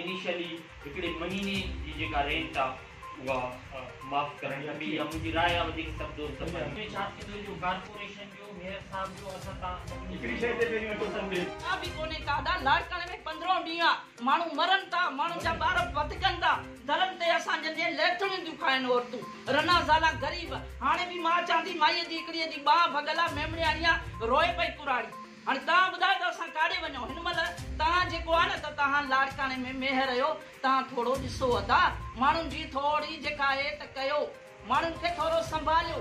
Initially هڪڙي مهيني جي جيڪا رينٽ آ اها معاف ڪرڻ کپي يا منهنجي راء آ وڌيڪ سڀ دوست پنهنجي ۽ ائين ڇا ٿيندو جو ڪارپوريشن جو ميئر صاحب جو اسان تان سڀني هڪڙي شئي تي پهرين وٽو سنگ ڏي. ڪا به ڪونهي ڪادا لاڙڪاڻي ۾ پندرهون ڏينهن آ ماڻهو مرن ٿا ماڻهن جا ٻار وڌ ڪن ٿا درن تي اسان جن جي ليٿڙيون ٿيون کائن عورتون رنا زالا غريب هاڻي به مان چوان ٿي مائي جي هڪڙي جي ٻانهن ڀڳل آ ميمڻياڻي آ روئي پئي ڪراڙي. هاڻي توهان ٻڌايو ته اسان ڪاڏي وڃون هن مهل توهان جيڪو آهي نه ته توهان لاڙڪاڻي ۾ ميهر اهيو توهان ٿورو ڏسو ادا ماڻهن جي ٿورڙي جيڪا اهي ته ڪيو ماڻهن کي ٿورو سنڀاليو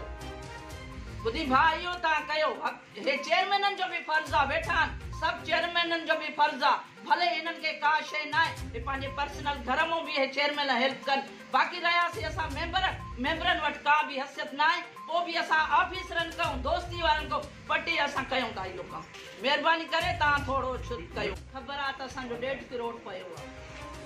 ٻڌي ڀاء اهيو توهان ڪيو هي چيئرمينن جو به فرض آ ويٺا آهن سڀ چيئرمينن جو به فرض آ ڀلي هنن کي ڪا شي ناهي هي پنهنجي پرسنل گهر مون به اهي چيئرمين هيلپ ڪن باقي رهيا سي اسان ميمبر ميمبرن وٽ ڪا به حثيت ناهي پو به اسان آفيسرن ڪئون دوستي وارن ڪئون پٽي اسان ڪيون ٿا اهو ڪم. مهرباني ڪري توهان ٿورو ڇت ڪيو. خبر آ ته اسان جو ڏيڍ ڪروڙ پيو آ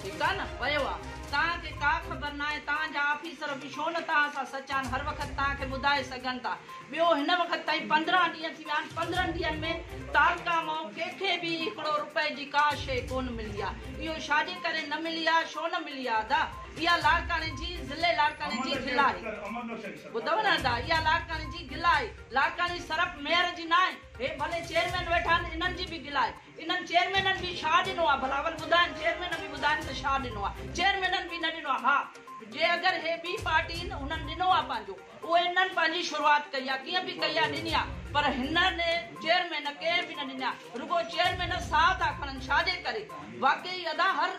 ٺيڪ آ نه ويو آ توهان کي ڪا خبر ناهي توهان جا آفيسر به شو نه توهان سان سچان هر وقت توهان کي ٻڌائي سگهن ٿا ٻيو هن وقت تائين پندرهن ڏينهن ٿي ويا آهن پندرهن ڏينهن ۾ تعلقه مئو ڪنهن کي به هڪڙو روپئي جي ڪا شيء ڪون ملي آ اهو شاجي ڪري نه ملي آ شو نه ملي آ ادا اها لاڙڪاڻي جي ضلعي لاڙڪاڻي جي گل آهي ٻڌو نه ادا اها لاڙڪاڻي جي گل آهي. لاڙڪاڻي صرف ميئر جي ناهي هي ڀلي چيئرمين ويٺا آهن انهن جي به گلا آهي انهن چيئرمينن به ڇا ڏنو آهي بلاول ٻڌائن چيئرمين به ٻڌائن ته ڇا ڏنو آهي چيئرمينن به نه ڏنو آهي ها جي اگر هي ٻي پارٽي هن انهن ڏنو آهي پنهنجو اهو انهن پنهنجي شروعات ڪئي آهي ڪيئن به ڪئي آهي ڏني آهي پر هنن چيئرمين ڪنهن به نه ڏني آهي رڳو چيئرمين ساهه ٿا کڻن ڇا جي ڪري واقعي ادا هر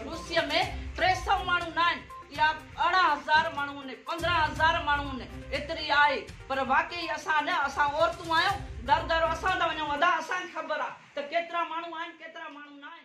ڏوسيء ۾ ٽي سؤ ماڻهو ناهن اها ارڙهن هزار ماڻهو نه پندرهن هزار ماڻهو نه ايتري آهي پر واقعي اسان نه اسان عورتون آهيون در در اسان ٿا وڃون ادا اسان کي خبر آهي ته ڪيترا ماڻهو آهن ڪيترا ماڻهو ناهن.